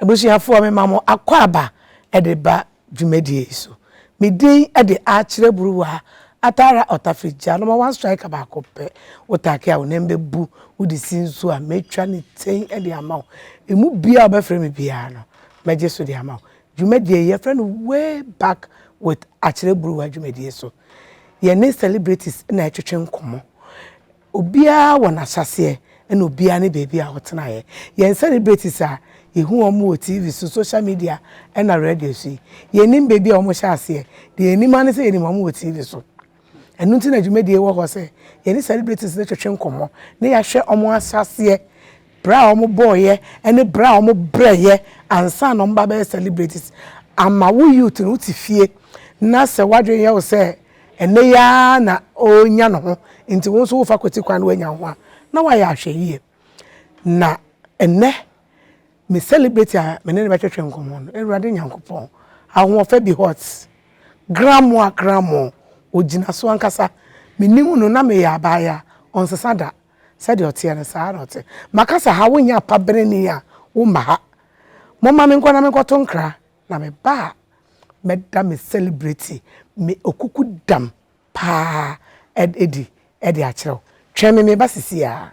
Abusuafoɔ mema mo akwaaba de ba dwumadie yi so. Me din de Akyerɛ Buruwa Atara Ɔtafirigya Number one striker baako pɛ. Wo take a wo nan bɛbu, wo de si nsuo a mɛtwa ne tɛn de ama wo. Ɛmu biara a wo bɛfrɛ me biara no mɛgye so de ama wo. Dwumadie yi yɛfrɛ no Way Back with Akyerɛ Buruwa dwumadie so. Yɛne celebrities na ɛretwetwe nkɔmmɔ. Obiara wɔ n'ahyɛaseɛ ɛna obiara ne baabi a ɔtenaeɛ. Yɛn celebrities a yɛhu wɔn wɔ TV so, social media ɛna radio so yi, yɛnnim baabi a wɔhyɛɛ aseɛ. Deɛ yɛnim ara ne sɛ yɛnim wɔn wɔ TV so. Ɛno nti na dwumadie yi wɔ hɔ sɛ yɛne celebrities no twetwe nkɔmmɔ na yɛahwɛ wɔn ahyɛaseɛ, berɛ a wɔbɔeɛ ɛne berɛ a wɔbrɛeɛ ansa na wɔba abɛyɛ celebrities. Ama wo youth no wote fie na sɛ w'adwene yɛ wo sɛ Ɛnnɛ yi ara na ɔrenya ne ho, enti wo nso worefa kwati kwan na woanya wo ho a, na woayɛ ahwɛyiye. Na ɛnnɛ, me celebrity a me ne no bɛtwetwe nkɔmmɔ no, Awurade Nyankopɔn, ahoɔfɛ bi hot, gramoa kramo, ogyina so ankasa. Menim no, na meyɛ abaayewa a ɔnsesa da. Sɛdeɛ ɔteɛ no, saa ara na ɔte. Maka sɛ, ha wonyɛ apabereni a, womma ha. Momma menkɔ na menkɔto nkra Na me ba a mɛda me celebrity me okuku dam paa adi de akyerɛ wo. Twɛn me meba sesie ara.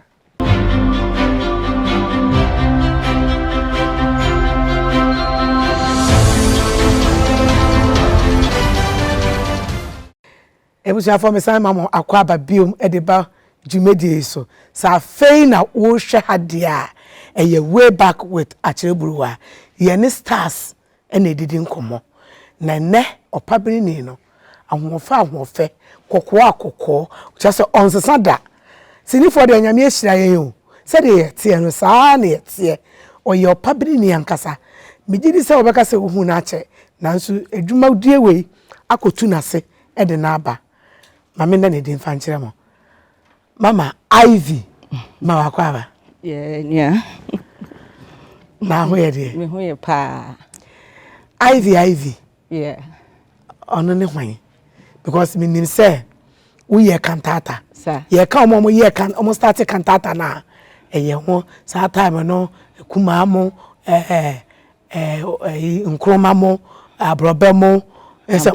Abusuafoɔ mesan ma mo akwaaba bio de ba dwumadie yi so. Sɛ afei na worehwɛ ha deɛ a, ɛyɛ Way Back with Akyerɛburuwa. Yɛne stars na ɛdidi nkɔmmɔ. Na ɛnnɛ ɔpabenini no, ahoɔfɛ ahoɔfɛ, kɔkɔɔ a kɔkɔɔ, kyerɛ sɛ ɔnsesa da. Sinifoɔ deɛ Nyame ahyira yɛn o, sɛdeɛ yɛteɛ no saa ara na yɛteɛ. Ɔyɛ ɔpabenini ankasa. Megye di sɛ wobɛka sɛ wohuu no akyɛ, nanso dwumadie wei akɔtu n'ase. de no aba ma me nna ne din fa nkyerɛ mo mama ivy ma wakɔ aba yɛ nua na ho yɛ deɛ me ho yɛ paa ivy ivy yeah ɔno ne hwan because me nim sɛ woyɛ kantata yɛka wɔn a wɔyɛ kan wɔn start kantata na ɛyɛ ho saa time no kumaa mo ɛɛ Ɛɛ nkruma mo, aborɔbɛ mo, sɛ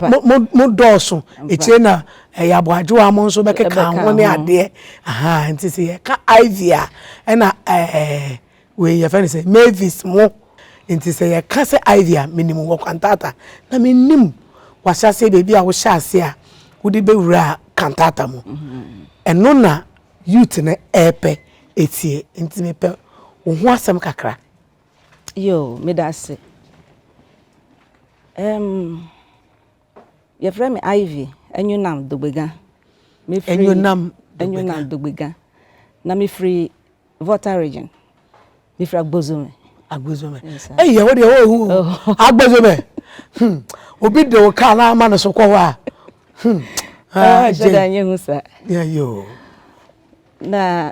mo dɔɔso. Akyire na ɛyɛ aboadwowa mo nso bɛkeka ho ne adeɛ. Ahaa nti sɛ yɛka ivy a ɛna ɛɛ wei yɛfrɛ no sɛ mavis mo. Nti sɛ yɛka sɛ ivy a menim wɔ Kwantata na menim w'ahyɛaseɛ baabi a wohyɛ aseɛ a wode bɛwuraa Kwantata mu. Ɛno na youth no ɛɛpɛ atie. Nti mepɛ wo ho asɛm kakra. Yoo medase ɛɛm yɛfrɛ me Ivy Anyunam Dogbega mefiri Anyunam Anyunam Dogbega na mefiri Volta region mefiri Agbozome Agbozome ɛyɛ yes, wo deɛ wɔhu oh. Agbozome hmm. obi de wo kaa na ama no so kɔ hɔ a hmm. ah, hyɛ da nyɛ hu sa na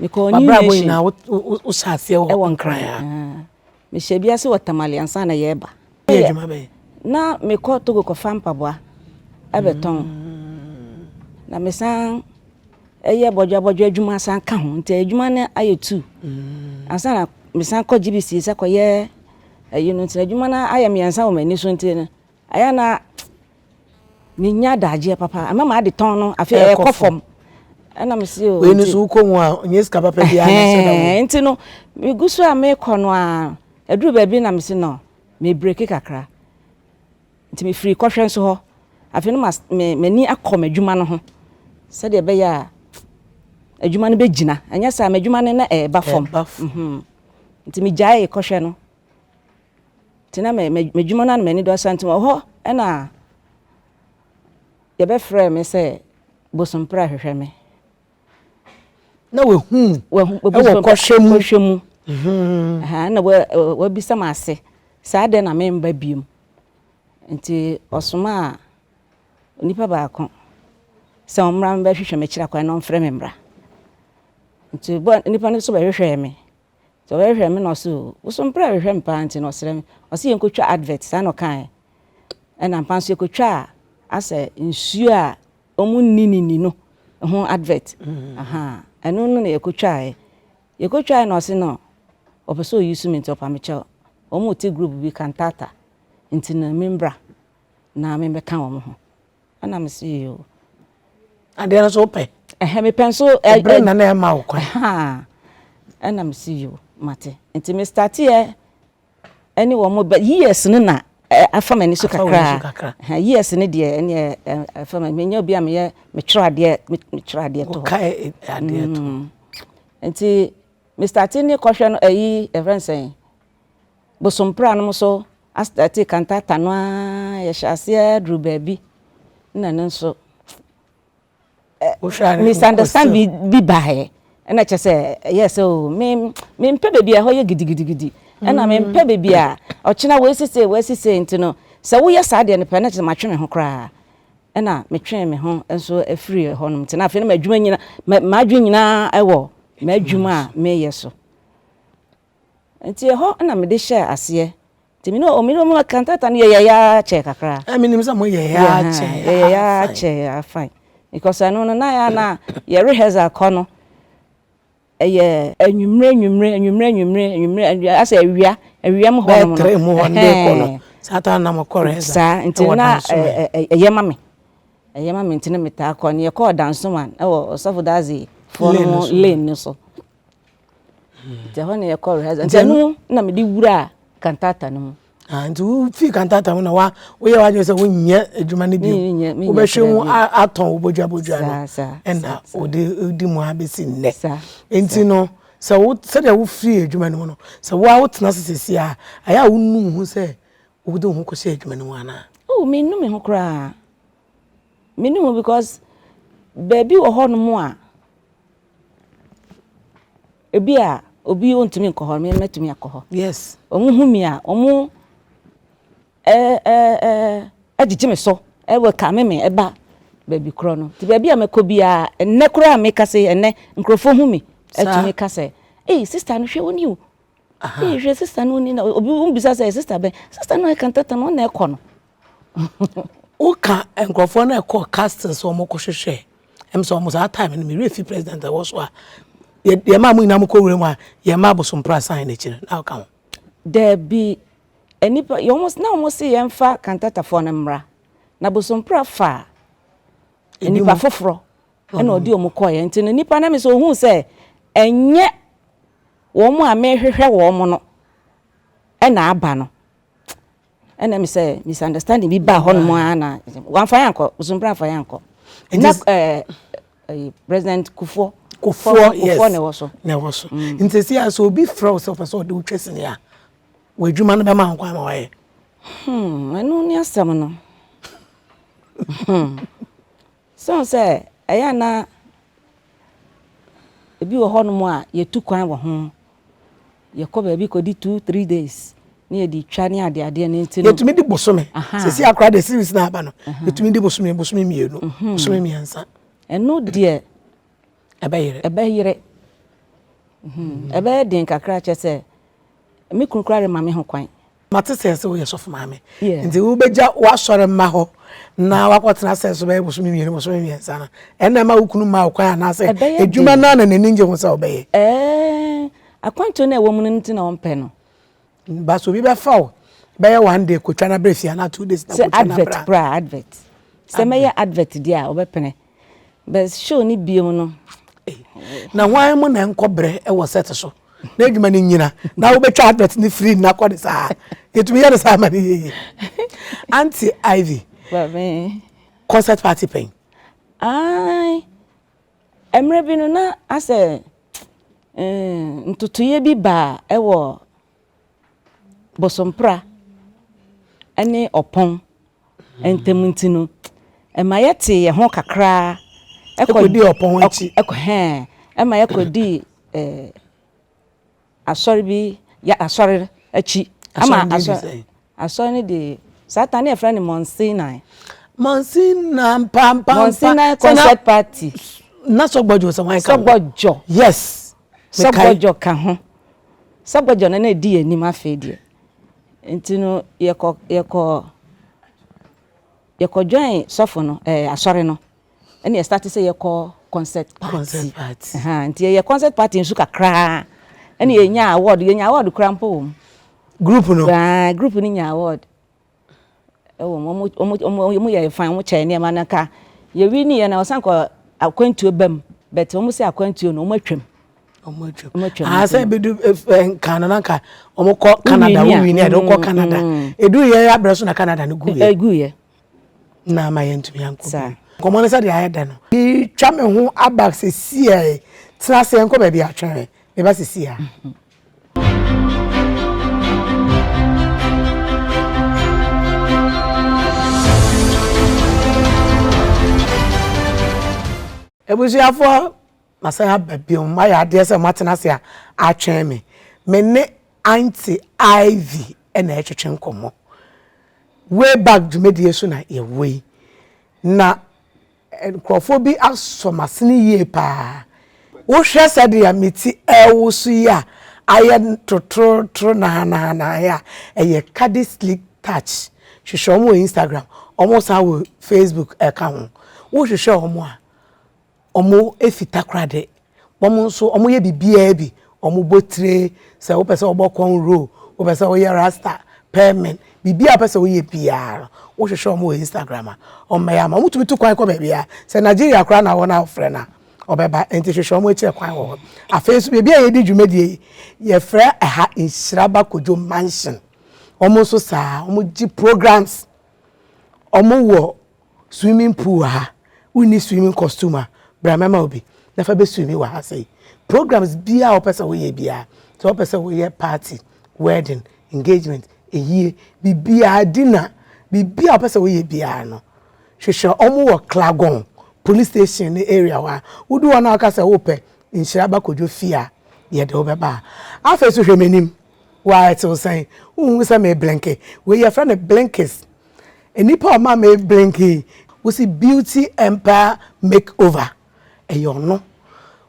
mekɔɔ new nation. Wabrabɔ nyinaa wo hyɛ aseɛ wɔ ɛwɔ nkran a. Mehyɛ bi ase wɔ tamale ansa na yɛreba. Yɛ adwuma bɛyɛ. Na mekɔ Togo kɔfa mpaboa ɛbɛtɔn. Mm. Na mesan ɛyɛ bɔdwa bɔdwa adwuma san ka ho nti adwuma no ayɛ tu. Mm. Ansa na mesan kɔ GBC sɛ kɔyɛ ɛyi no nti adwuma no ayɛ mmiɛnsa wɔ m'ani so nti no Ɛyɛ a na mennya adagyeɛ papa. Ɛma m'adetɔn no afei ɛkɔ ɛkɔ fam. fam. Ɛna mese o Wei no nti so wokɔ mu a, nyɛ sika papa biara na ɛhyɛ da wɔ mu. ɛhɛn, nti no megu so a mekɔ no ara ɛduru baabi na mese no mebreki kakra. Nti mefiri kɔhwɛ nso hɔ. Afei na mas me m'ani akɔ m'adwuma no ho sɛdeɛ ɛbɛyɛ a adwuma no bɛgyina. Ɛnyɛ saa a m'adwuma no na ɛreba fam. Ɛba fam. Mhm. Nti megyaee kɔhwɛ no. Nti na m'adwuma no ara na m'ani dɔ saa nti wɔ hɔ na yɛbɛfrɛɛ me sɛ Bosompra hwehwɛ me. Na wahu wo wɔ kɔhwɛ mu. Kɔhwɛ mu. Ɛna wabisa me ase sɛ adɛn na memba biom. Nti ɔsomaa onipa baako sɛ ɔmmra mmɛhwehwɛ me akyiri akwan na ɔmfrɛ me mmra. Nti nipa no nso bɛhwehwɛɛ me. Nti ɔbɛhwehwɛ me na ɔse oh wo so mprɛ hwehwɛ me paa nti no ɔsrɛ me ɔse yɛnkɔtwa advert saa na ɔkaeɛ ɛna ampa nso yɛkɔtwaa asɛ nsuo a ɔmo nni ne ni no ho advert ahaa ɛno no na yɛkɔtwaaɛ yɛkɔtwaaɛ na ɔse no ɔpɛ sɛ ɔ use me nti ɔpa mekyɛw ɔmo te group bi cantata nti no membra na memmɛka ɔmo ho. ɛna me se yoo. Adeɛ no so wopɛ? Ɛhɛ mepɛ nso. Ɛbere na na ɛma wo kwan. Ɛna me se yoo mate nti me starteɛ ɛne wɔn bɛ years no na afa m'ani so kakra. Years no deɛ ɛne ɛfa m'ani menyɛ obi a meyɛ metwerɛ adeɛ metwerɛ adeɛ to hɔ. Wokae adeɛ to. Nti me starte ne kɔhwɛ no ɛyi ɛfɛn sɛn. bosoom pra nom so astarte kantata no ara yɛ hyɛ aseɛ duru baabi na no nso misunderstand bi baeɛ ɛna kyɛ sɛ ɛyɛ sɛ o me me mpɛ baabi a ɛhɔ yɛ gidigidigidi ɛna me mpɛ baabi a ɔkyena wei sise wei sise nti no sɛ woyɛ saa deɛ no pɛ ɛna kyɛ sɛ matwe me ho koraa ɛna metwe me ho nso afiri ɛhɔ nom nti na afei no m'adwuma nyina m'adwe nyinaa ɛwɔ m'adwuma a meyɛ so Nti ɛhɔ na mede hyɛɛ aseɛ. Nti mene Omiro mu cantata no yɛyɛeɛ ara kyɛɛ kakra. Ɛɛ menim sɛ mo yɛeɛ ara kyɛɛ fine. Yɛyɛeɛ ara kyɛɛ fine because ɛno no na yɛa na yɛ rehearsal kɔ no ɛyɛ. Anwumerɛ anwumerɛ anwumerɛ anwumerɛ anwumerɛ asɛ awia awia mu hɔ nom no. Bɛyɛ three mu hɔ no de kɔ no saa time no na mo kɔ rehearsal. Saa nti no na ɛyɛ ma me ɛyɛ ma me nti no metaa kɔ no yɛkɔɔ Dansoman ɛwɔ Ɔsɔfo Dadzie foɔ no lane no so. nti ɛhɔ na yɛkɔ rehearsal nti ɛno na mede wuraa kantata no mu ah, nti wofii kantata mu na wa woyɛ w'adwene sɛ wonyɛ adwuma no bio wobɛhwɛ mu atɔn wo bodwabodwa no ɛna wode di mu a bɛsi nnɛ nti no sɛ wo sɛdeɛ wofiri adwuma no mu no sɛ wo a wotena ase sɛsi a ɛyɛ a wonu ho sɛ wode wo ho kɔhyɛ adwuma no mu anaa oh menu me ho koraa menu ho because baabi wɔ hɔ nom a Ebi a obi ontumi nkɔ hɔ, me mɛtumi akɔ hɔ. Yes. Wɔn hu mi a, wɔn ɛɛ ɛɛ ɛgyegye me so, ɛwɔ kame me ɛba baabi korɔ no. Ti baabi a mɛkɔ biara, ɛnɛ koraa a meka se ɛnɛ nkurɔfoɔ hu mi, ɛtumi ka sɛ, ee sista no hwɛ wo ni o. Ee hwɛ sista no ni na obi bisa sɛ sista bɛn, sista no a ɛka ntɛtɛ no ɔna ɛkɔ no. Woka nkurɔfoɔ no a ɛkɔɔ castle sɛ wɔkɔhwehwɛ ɛm sɛ wɔn saa time no me werɛ fi president a ɛwɔ so a yɛmaa mo nyinaa mokɔ wura mu a yɛmaa bosomprɛ san no akyire na woka ho Daabi, nnipa wɔn na wɔn se yɛmfa Kantatafoɔ no mmra, na Bosompra faa nnipa foforɔ na ɔde wɔn kɔeɛ nti no nnipa no ame sɛ ɔhuu sɛ ɛnyɛ wɔn a mehwehwɛ wɔn no na aba no Ɛna mi sɛ misunderstanding bi baa hɔnom ara na wɔamfa yɛn ankɔ Bosompra amfa yɛn ankɔ na ɛɛ ɛyi president Kufuor Kufuor yes Kufuor na ɛwɔ so na ɛwɔ so mm. nti sɛ yɛ sɛ obi frɛ wo sɛ ɔpɛ sɛ ɔde wotwa sini a w'adwuma no bɛma nkwa ma wayɛ. Hmm, ɛno ne asɛm no. Hmm. Esiane sɛ ɛyɛ a na ebi wɔ hɔnom a yetu kwan wɔ ho, yɛkɔ baabi kodi two, three days na yɛde twa ne adeadeɛ no nti no. Yɛtumi di bosome. Seesei akora deɛ series no aba no, yɛtumi di bosome, bosome mmienu, bosome mmiɛnsa. Ɛno deɛ ɛbɛyere. Ɛbɛyere. Ɛbɛyɛ den kakra kyɛ sɛ me kunu koraa rema me ho kwan. mate sɛ sɛ woyɛ sɔfo maame nti wobɛgya woasɔre mma hɔ na wakɔtena sɛ so bɛyɛ bosome mmienu bosome mmiɛnsa no ɛna ma wo kunu ma wo kwan anaasɛ adwuma no ana n'ani ngye ho sɛ wobɛyɛ eh, akwantuo no ɛwɔ mu no nti na ɔmpɛ no ba so obi bɛfa wo bɛyɛ one day kɔtwa no abrɛ fie anaa two days na kɔtwa no abrɛ advert koraa advert sɛ mɛyɛ advert deɛ a ɔbɛpene Best show ne bio no. Na hwan mu na ɛnkɔ brɛ wɔ set so na adwuma no nyina na wobɛtwa advert no firi nna kɔ ne saa yɛtumi yɛ no saa ma no yɛyɛ anti ivy concert party pɛn ai mmerɛ bi no na asɛ eh, ntotoeɛ bi baa ɛwɔ bosompra ne ɔpɔn ntam nti no, ɛma yɛtee yɛn ho kakra kɔdii ɔpɔn akyi. Ɛma yɛkɔdii asɔre bi, asɔre akyi. Asɔre din de sɛn? Asɔre no de saa tan no yɛfrɛ no Mount Sinai. Mount Sinai mpampaampa. Mount Sinai concert party. Na sɔgbɔdwo sɛ wɔn ka ho. Sɔgbɔdwo. Yes. Sɔgbɔdwo ka ho. Sɔgbɔdwo no na edi yɛn anim afei deɛ. Nti no yɛkɔ yɛkɔ yɛkɔ join sɔfo no ɛɛ asɔre no. ɛna yɛ starte sɛ yɛkɔ concert party concert party ɛhan nti yɛyɛ concert party nso kakraa ɛna yɛnya award yɛnya award kura mpo wɔm group no ɛhan group no nya award ɛwɔ mu wɔn wɔn wɔn wɔn yɛ fan wɔn kyɛ nneɛma no ka yɛwi ni yɛ na ɔsan kɔ akwantuo bɛm bɛtɛ wɔn sɛ akwantuo no wɔn atwam wɔn atwam wɔn atwam aha sɛ ebi du ɛfɛ nkan na nka wɔn kɔ canada wɔn wi ni yɛ de wɔn kɔ canada edu yɛ abirɛ so na canada no gu yɛ egu yɛ. na ama yɛntumi ankɔ bi nkɔmmɔ no sɛdeɛ ayɛ dɛ no twa me ho aba sesia yi tena ase yɛnkɔ baabi atwɛn me meba sesia abusuafoɔ Masan aba bio. Moayɛ adeɛ sɛ moatena ase a atwɛn me. Me ne Aunty Ivy na ɛretwetwe nkɔmmɔ. Way back dwumadie so na yɛwɔ yi. Na nkurɔfoɔ bi asɔ m'asene yie paa. Wohwɛ sɛdeɛ me ti rewoso yi a ayɛ totorotoro nahanaha yi a, ɛyɛ Cadi Sleek Touch. Hwehwɛ wɔn wɔ Instagram, wɔsan wɔ Facebook ka ho. Wohwehwɛ wɔn a, wɔfi takoradi, wɔn nso wɔyɛ biribiara bi, wɔbɔ tire, sɛ wopɛ sɛ wobɔ corn roll, wopɛ sɛ woyɛ rasta, perming, biribiara a wopɛ sɛ woyɛ biara no, wohwehwɛ wɔn wɔ Instagram a, wɔbɛyɛ ama wo. Wotumi tu kwan kɔ baabiara, sɛ Nigeria koraa na wowɔ na wofrɛ no a, ɔbɛba, ɛnti hwehwɛ wɔn akyiri kwan wɔ hɔ. Afei nso baabi a yɛdi dwumadie yi, yɛfrɛ ɛha Nhyiraba Kojo Mansion, wɔn nso saa ara, wɔgye programs, wɔwɔ. Swimming pool wɔ ha, wonni swimming costume a, bra mɛma wo bi na fa bɛswimmi wɔ ha sei. Programs biara a wopɛ sɛ woyɛ biara, sɛ wopɛ sɛ woyɛ party, wedding, engagement, ayie, biribiara, dinner, biribiara a wopɛ sɛ woyɛ biara no, hwehwɛ wɔn wɔ Klagon police station no area hɔ a, wodu hɔ no a woka sɛ wopɛ nhyira ba kɔdwo fie a, yɛde wo bɛba ha. Afei nso hwɛ m'anim, waa ɛte wo sɛn? Wonhu sɛ meeblenke? Wei yɛfrɛ no blinkers. Nnipa a ɔma me blink yi, wosi Beauty Empire Make Over, ɛyɛ ɔno.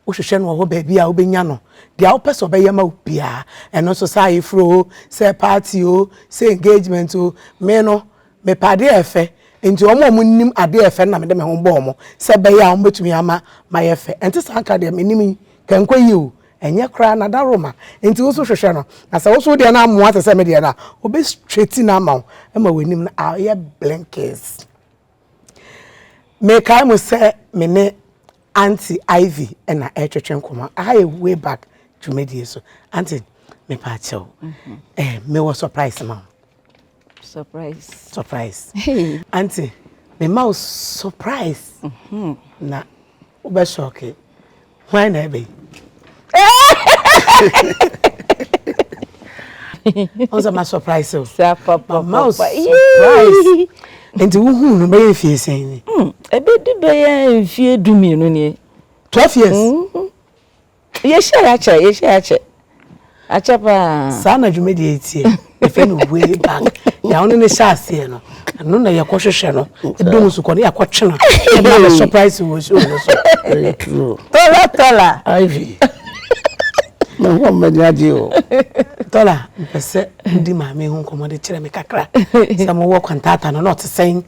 Wohwehwɛ no wɔ hɔ baabi a wobɛnya no. Deɛ wopɛ sɛ ɔbɛyɛ ma wo biara, ɛno nso sɛ ayeforo o, sɛ party o, sɛ engagement o, me no, mepɛ adeɛ a ɛfɛ. Nti wɔn a wɔnim adeɛ a ɛfɛ no na mede me ho bɔ wɔn sɛ ɛbɛyɛ a wɔbɛtumi ama mayɛ fɛ. Ɛnte saa nka deɛ mennim yi, kɛnkɔ yie o, Ɛnyɛ koraa na da roma nti wo nso hwehwɛ no na sɛ wo nso wo deɛ no amoa te sɛ me deɛ no a, ɔbɛ straighten no ama wo ma w'anim no ayɛ blinkes. Mekae mu sɛ me ne Aunty Ivy na ɛretwetwe nkɔmmɔ, aha yɛ way back dwumadie so. Aunty, mepaakyɛw, eh, mewɔ surprise ma wo. Surprise. Surprise. Hey. Auntie, me ma surprise. Mm-hmm. Na ube shocky. Why na ebe? Onse ma surprise o. Sa papa. Ma surprise. Enti wo hu no be fie sen ni. Mm. Ebe du be fie du mi no ni. 12 years. Mm -hmm. Yɛhyia yɛ akyɛ yɛhyia yɛ akyɛ akyɛ paa. Saa na dwumadi yɛ teɛ yɛfɛ no way back nea ɔno ne hyɛ aseɛ no ɛno na yɛkɔ hwehwɛ no ɛdɔ mu so kɔ ne yɛakɔ twe no ɛma bɛ surprise wɔ show no so. Ɛyɛ true. Tɔla tɔla. Ivy. Me ho mmɛni agye o. Tɔla mpɛ sɛ wodi maame ho nkɔmmɔ de kyerɛ me kakra sɛ mowɔ kwantata no na ɔte sɛn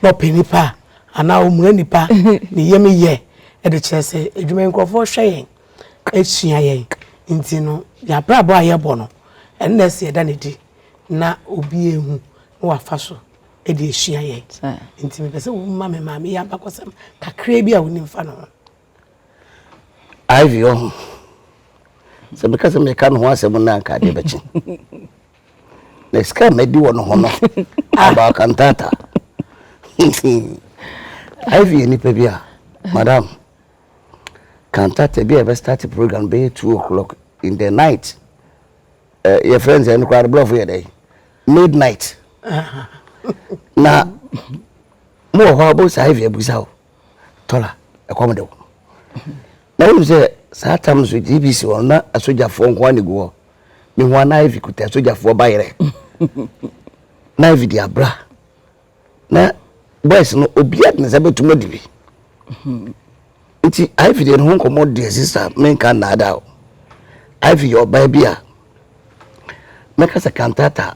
na ɔpɛ nipa a. anaa ɔmura nipa ne yam yɛ de kyerɛ sɛ adwuma yi nkurɔfoɔ hwɛ yɛn asua yɛn nti no yɛn abrabɔ a yɛbɔ no ɛno na ɛsɛ yɛda no di na obi ehu na wafa so de asua yɛn nti mepɛ sɛ woma me maame yɛ abakɔsɛm kakraa bi a wonim fa no ho Ivy wɔ ho. Sɛ meka sɛ meka ne ho asɛm no anka adeɛ bɛkye. Na sika madi wɔ ne ho no aba akantata. Ivy yɛ nipa bi a madam kantata bi a yɛbɛ start program bɛyɛ two o'clock in the night. Uh, your friends and crowd bluff yɛ dɛ midnight. Na mo wɔ hɔ abɔ saa Ivy abusa o. Tola, ɛkɔm de wo. Na wonim sɛ saa tam no so GBC hɔ na asogyafoɔ nko ara na ɛgu hɔ. Mehu a na Ivy kuta asogyafoɔ bayerɛ. na Ivy de abra. Na boys no obiara de ne nsa bɛtum adi bi. Nti Ivy deɛ ne ho nkɔmmɔ deɛ sista menka nnaadaa o. Ivy yɛ ɔbaa bi a mɛka sɛ kantata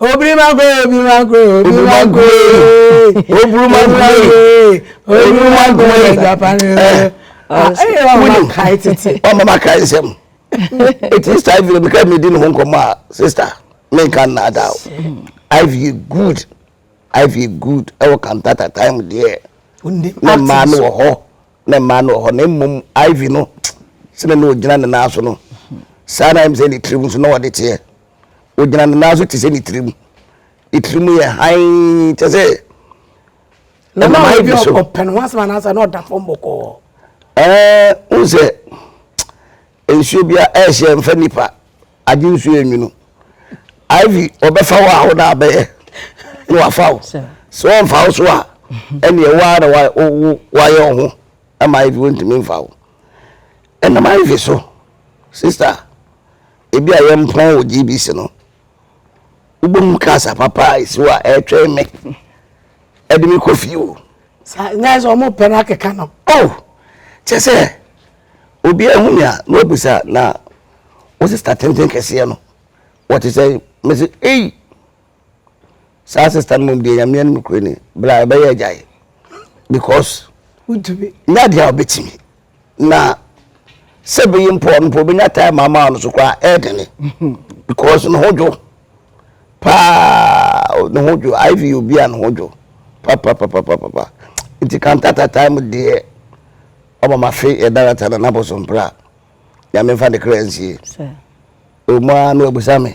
Obrumagwe, Obrumagwe, Obrumagwe, Obrumagwe, Obrumagwe, Japani. Wúni ọmọ ma ka nsẹm. Eti sista Ivy na bika mi di ne ho nkɔmɔ a sista mi nka nna ada o. Ivy yɛ good Ivy yɛ good ɛwɔ kantata time deɛ na mmaa no wɔ hɔ na mmaa no wɔ hɔ na mmom Ivy no sɛnɛ na ogyina ne nan so no saa na ɛmu sɛ ne tirim nso na ɔde teɛ. Ogyina ne nan so te sɛ ne tirim. Ne tirim yɛ hann kyɛ sɛ nnomaa bi so. Ɔpɛ ne ho asɛm anaasɛ na ɔda fam bɔkɔɔ. Ɛɛ n sɛ nsuo bi a ɛhyɛ mfa nipa agye nsuo enwunu. Ivy ɔbɛfa wo a wo na abɛyɛ na wafa wo. Sɛ ɔmfa wo so a ɛneɛ wo ara na wayɛ wo ho ama Ivy wontumi mfa wo. Ɛnam Ivy so sister. ebi a yɛmpɔn wɔ GBC no, wobom ka asa papa a ɛsi hɔ a ɛretwɛn me ɛde me kɔ fie o. saa nyɛ sɛ wɔn pɛ no akeka no. o oh, kyɛ sɛ obi ahu me a na wabisa na wo sista tenten kɛseɛ no wɔte sɛ mese ei saa sista no mom deɛ nyame anim no kure ni bra ɛbɛyɛ agyae because wontumi nyɛ adeɛ a wobɛtumi na sɛ bɛyi mpɔ no mpo wobɛnya time ama no so koraa ɛdene because ne ho dwo paa ne ho dwo iv obi a ne ho dwo papapapapapa nti kantata time deɛ ɔma mafe yɛdarata na naboso mpra nyame mfa ne kra nsie ɔmu a na wabusa me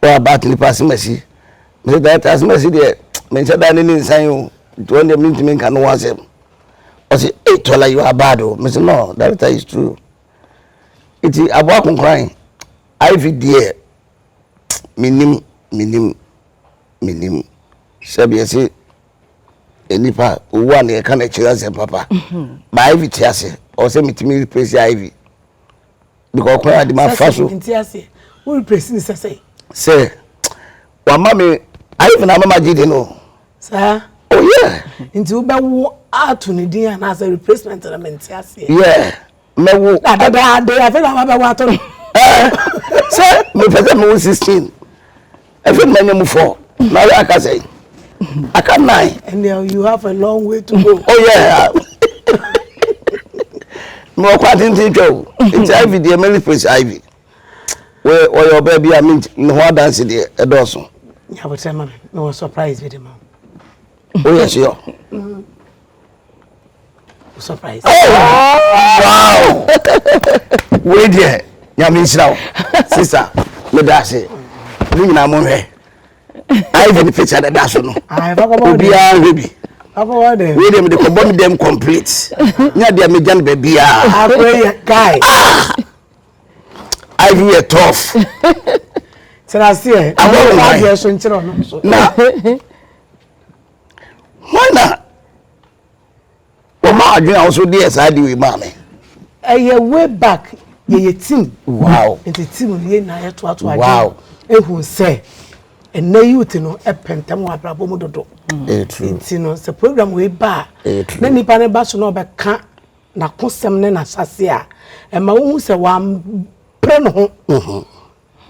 What about nipa asemasi? Mese director asemasi deɛ menhyɛ da ne ne nsan o nti ɔno deɛ mentumi nka ne ho asɛm ɔse ei tɔla you are bad o mese no director is true nti aboa konkoran iv deɛ menim menim menim sɛbeɛ se nipa owu a na yɛka no akyiri asɛm papa ba iv te ase ɔwɔ sɛ metumi replace iv because kwan a de ma fa so. nti ase wo replace ne sɛ sɛ. sɛ wama me ayɛ me na ama ma gye de no. saa. oh yeah. nti wobɛwo ato ne din anaasɛ replacement na mente aseɛ. yeah mɛwo. na dada ade afei na wabɛwo ato no. sɛ mepɛ sɛ mewo sixteen. Efe mmanya mu fɔ na ɔyɛ aka sɛn aka nnan. ɛnna you have a long way to go. oh yeah mi wɔ kɔ atenten twɛ o nti ivy deɛ mary praise ivy wɔyɛ wɔyɛ ɔbaa bi a mi ne ho adansi deɛ ɛdɔɔso. nyabotire ma mi mi wɔ surprise bi de ma. Oh yes, yo. Mm. Surprise. Oh, wow. Wei deɛ, nyame nhyira wo. Sisa, meda ase. Ne nyinaa mo nhwɛ. Ivan ne picture deda so no. Obiara nhwɛ bi. Wei deɛ mede kɔbɔ me dɛm complete. Nya deɛ megya no baabiara. Akwai, guy. Ah! Ivan yɛ tough. Tena aseɛ. Abɔ wo hwan. Na. Hwan na wɔma adwene a wɔso deɛ saa de wei maa me? Ɛyɛ way back yɛyɛ team. Wow. Nti team no yɛ nyinaa yɛtoato adwene. Wow. Ehu sɛ ɛnɛ youth no ɛpɛntɛm wɔ abrabɔ mu dodo. Mm. Ɛyɛ true. Nti no sɛ program wei ba a. Ɛyɛ true. Na nipa ne ba so na ɔbɛka n'akosɛm ne n'asase a ɛma wohu sɛ wampere ne ho. Mm-hmm.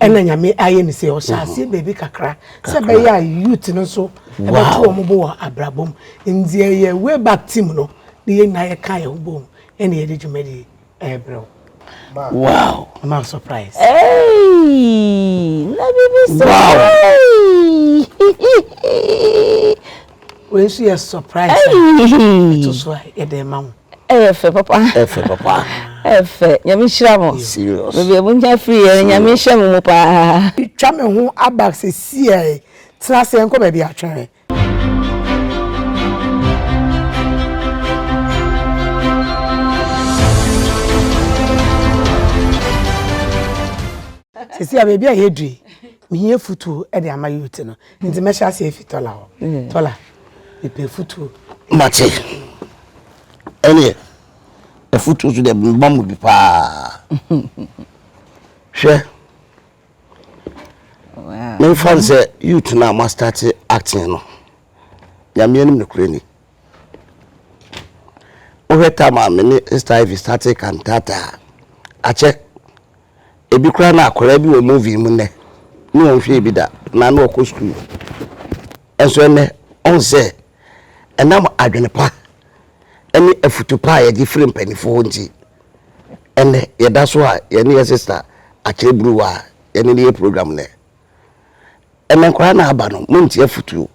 ɛna nyame ayɛ ne sɛ ɔhyɛ aseɛ baabi kakra sɛ bɛyɛ a youth no nso ɛbɛto wɔn bo wɔ abrabɔ mu nti ɛyɛ way back team no ne yɛn nyinaa yɛka yɛn ho bom ɛna yɛde dwumadi ɛbrɛ wo wow ma surprise hey na bibi surprise wow. Wei nso yɛ surprise. Ɛyi. Ɛto so a yɛde ma wo. Ɛyɛ fɛ papa. Ɛyɛ fɛ papa. Ɛyɛ fɛ. Nyame nhyira mo. Serious. Baabi a monya firi yɛ Nyame nhyɛ mo mu paa. Twa me ho aba sesie a yi. Tena ase yɛnkɔ baabi atwɛn. Sesie a baabi a yɛadu yi, mehia afutuo de ama youth no. Nti mɛhyɛ ase afi tɔla hɔ. Mm. Tɔla, mepɛ afutuo. Mate. Ɛneɛ, afutuo so deɛ meba mu bi paa. Hwɛ. Memfa no sɛ youth no a moastate acting no. Nyameɛ no mekura ni. Wohwɛ tam a me ne Sister Ivy startee cantata a, akyɛ ebi koraa na akwadaa bi wɔ movie mu nnɛ ne wɔn hwɛɛ bi da na na ɔkɔ sukuu. Nso ɛnnɛ ɔn sɛ ɛnam adwene pa ne afutu pa a yɛgye firi mpanimfoɔ hɔ nti, ɛnnɛ yɛda so a yɛne yɛ sista akyerɛ buruwa a yɛne no yɛ program nnɛ. Ɛnɛ nkwadaa na aba no, monte afutuo.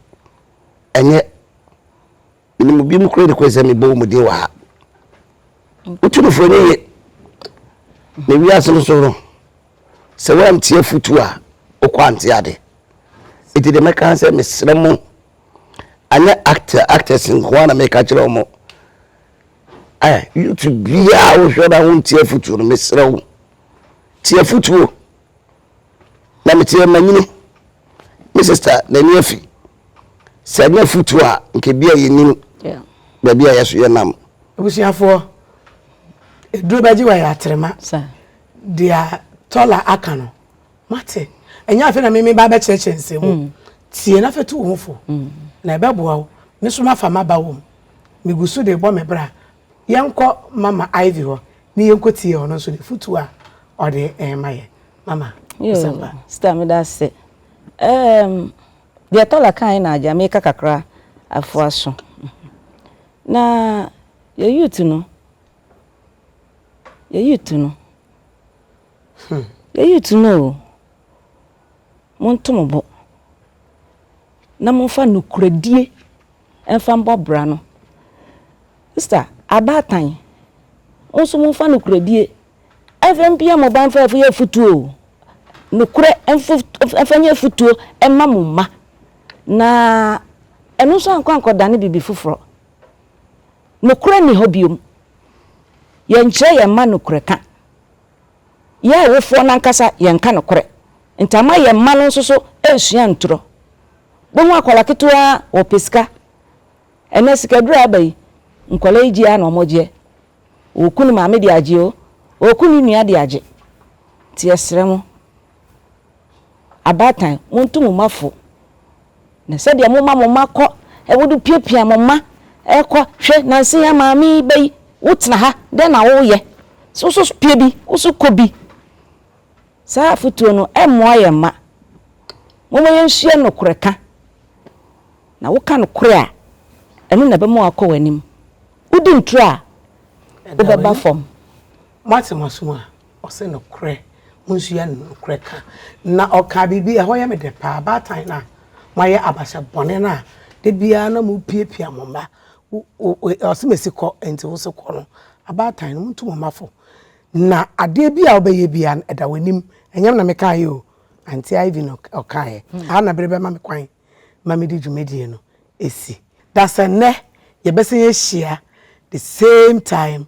Ɛnyɛ. Menim obinom koraa de kɔɛ sɛ mebɔ wɔn din wɔ ha. Wotumfoɔ no ye. Na wiase no so no, sɛ woantie afotu a, wokɔ ante ade. Enti deɛ mɛka sɛ mesrɛ mo, anyɛ actor actors nko ara na meka kyerɛ wɔn. Eh, YouTube biara wohwɛ na wontie afotu no, mesrɛ wo. Tie afotuo. Na meteɛ manyini me sister n'ani afi sɛ ɛnyɛ afotuo a nka ebi a yɛnim baabi a yɛ so yɛnam. Abusuafoɔ, eduro bɛgye wɔ yɛ atrema. Deɛ Tola aka no, moate? Ɛnyɛ afei na me meba abɛkyerɛkyerɛ nsɛm mu. Mm. Tie na afei tu wo ho fo. Mm. Na ɛbɛboa wo. Me so mafa m'aba wɔ mu. Megu so de bɔ me bra. Yɛnkɔ Mama Ivy hɔ ne yɛnkɔtie ɔno nso n'afotuo a ɔde rema yɛn. Mama, kasa fa. Yoo, sista meda ase. Ɛɛm, deɛ Tola kaeɛ na agya meka kakra afoa so. Na yɛn youth no, yɛn youth no, yɛn youth no o, Monto mo bo, na momfa nokorɛdie mfa mbɔ bra no. Sista, abaatan, mo nso momfa nokorɛdie mfa mpia mo ba mfa nyɛ afutuo. Nokorɛ mfa nyɛ afutuo mma mo mma. Na ɛno nso ankɔ ankɔdane biribi foforɔ. Nokorɛ nni hɔ bio. Yɛnkyerɛ yɛn mma nokorɛ ka. Yɛn awofoɔ no ankasa yɛnka nokorɛ, nti ama yɛn mma no nso so ansua anturɔ. Wobɛhu akwadaa ketewa ɔpɛ sika, ɛnnɛ sika aduro a aba yi, nkwadaa yi gye ara na wɔgyeɛ. Ɔɔku ne maame de agye o, ɔɔku ne nua de agye. Nti yɛsrɛ mo, abaatan, monto mo mma fo, na sɛdeɛ moma mo mma kɔ, wode piapia mo mma kɔ, hwɛ, nansa yi ara maame yi ba yi, wotena ha, dɛn na woreyɛ? So wo nso pia bi, wo nso kɔ bi. Saa afotuo no, ɛmmoa yɛn mma. Momma yɛnsua nokorɛ ka, na woka nokorɛ a, ɛno na ɛbɛma woakɔ w'anim. Wodi ntorɔ a, wobɛba fam. Moate m'asom a? Ɔse nokorɛ, monsua nokorɛ ka. Na ɔkaa biribi, ɛhɔ yɛ me dɛ paa, baatan no a moayɛ abahyɛ bɔne no a da biara na mopiapia mo mma, ɔse mesi kɔ, enti wo se kɔ no, abaatan no montu mo mma fo, na adeɛ biara a wobɛyɛ biara no ɛda w'anim, ɛnyɛ me na mekaeɛ o, Auntie Ivy na ɔkaeɛ, aha na bere bɛma me kwan ma mede dwumadie no asi. Dasɛ nnɛ yɛbɛsan ahyia the same time,